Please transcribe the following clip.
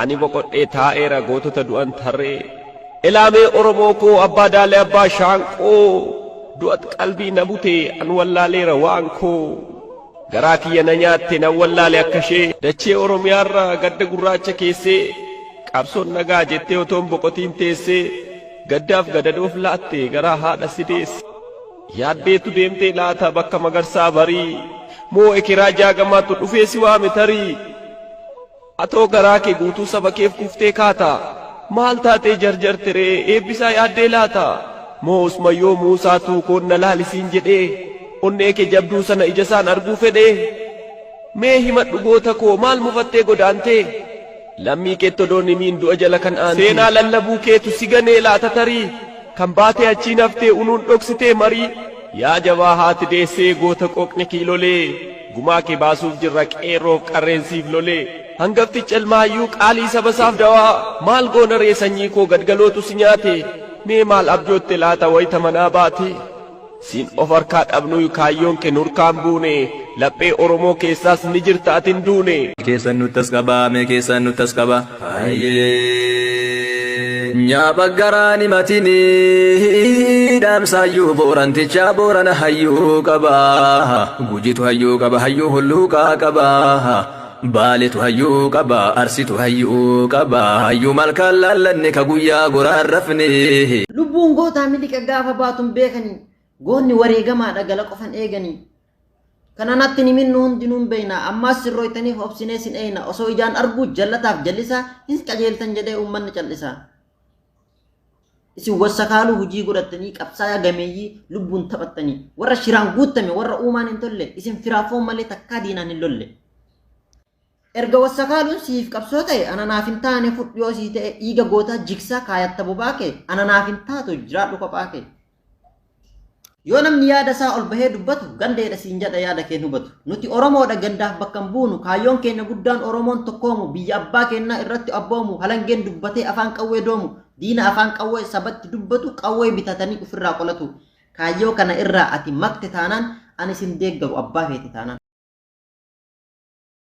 Ani boqodhee taa'eera gootota du'an tarree. Elaa mee Oromoo koo abbaa daalee abbaa shaanqoo du'at qalbii na bute an wallaaleera waan koo garaa kiyya na nyaatte nan wallaale akka ishee dachee Oromiyaarra gadda gurraacha keessee qabsoon nagaa jettee otoon boqotiin teessee gaddaaf gadadoof laatte garaa haadha si deesse yaaddeetu deemtee laata bakka magarsaa barii moo ekeraa jaagamaatu dhufee si waame tarii Atoo garaa kee guutuu saba keef kuftee kaata? Maal taatee jarjarte ree eebbisaa yaaddee laata? Moo usma yoo Muusaa tuukoon na laali siin jedhee onnee kee jabduu sana ijasaan arguu fedhee? Mee himadhu goota koo maal mufattee godaantee? Lammii keetti odoon himiin du'a jala kan aantee. Seenaa lallabuu keetu si ganee laata tarii? Kan baatee achiin haftee unuun dhoksitee marii? Yaa jabaa haati deessee goota qooqni kiilolee. Gumaa kee baasuuf jirra qeerroof qarreen siif lolee. Hangaftichi ilma hayyuu qaalii saba isaaf dawaa maal goona ree sanyii koo gadgalootu si nyaate mee maal abjootte laata wayita manaa baate siin of harkaa dhabnuyu kaayyoon kee nurkaan buune laphee oromoo keessaas ni jirta ati hin duune. Keessan nuttas qaba mee keessan nuttas qaba. Nya baggaraa ni matini dhaamsaayyuu boorantichaa boorana hayyuu qaba gujitu hayyuu qaba hayyuu hulluuqaa qaba baaletu hayyuu qaba arsitu hayyuu qaba hayyuu malkaan laallanne ka guyyaa goraan rafne. Lubbuun gootaa miliqa gaafa baatun beekanii goonni wareegamaadha gala qofan eeganii Kana natti hin himin nu hundinuu hin beeyna. Ammaas sin rooytaniif obsinee sin eeyna. Osoo ijaan arguu jallataaf jallisaa hin qajeeltan jedhee uummanni callisaa. Isin wassakaaluu hujii godhattanii qabsaayaa gameeyyii lubbuun taphattanii warra shiraan guuttame warra uumaan hin tolle isin firaaf foon malee takkaa diinaan hin lolle. Erga wassakaaluun siif qabsoo ta'e ana naaf hin taane fudhu yoo sii ta'e dhiiga gootaa jigsaa kaayatta bobaa kee ana naaf hin taatu jiraadhu kophaa kee. Yoo namni yaada isaa ol bahee dubbatu gandeedha siin jedha yaada keen hubatu. Nuti Oromoodha gandaaf bakka hin buunu kaayyoon keenya guddaan Oromoon tokkoomu biyya abbaa keenyaa irratti abboomu halangeen dubbatee afaan qawwee doomu diina afaan qawwee sabatti dubbatu qawwee bitatanii ofirraa qolatu. Kaayyoo kana irraa ati makte taanaan ani sin deeggaru abbaa feete taanaan.